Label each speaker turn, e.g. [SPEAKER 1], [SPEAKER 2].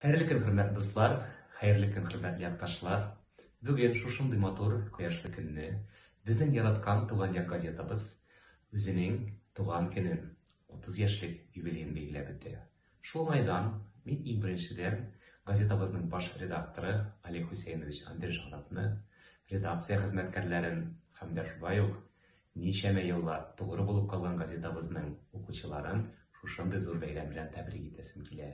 [SPEAKER 1] Хәерле көн, хөрмәтле дуслар! Хәерле көн, хөрмәтле якташлар! Бүген шушындый матур кояшлы көнне безнең яраткан Туган як газетабыз үзенең туган көнен, 30 яшьлек юбилеен билгеләп үтә. Шул уңайдан мин иң беренчедән газетабызның баш редакторы Олег Хусәйнович Андрежановны, редакция хезмәткәрләрен һәм дә шулай ук ничәмә еллар тугры булып калган газетабызның укучыларын шушындый зур бәйрәм белән тәбрик итәсем килә.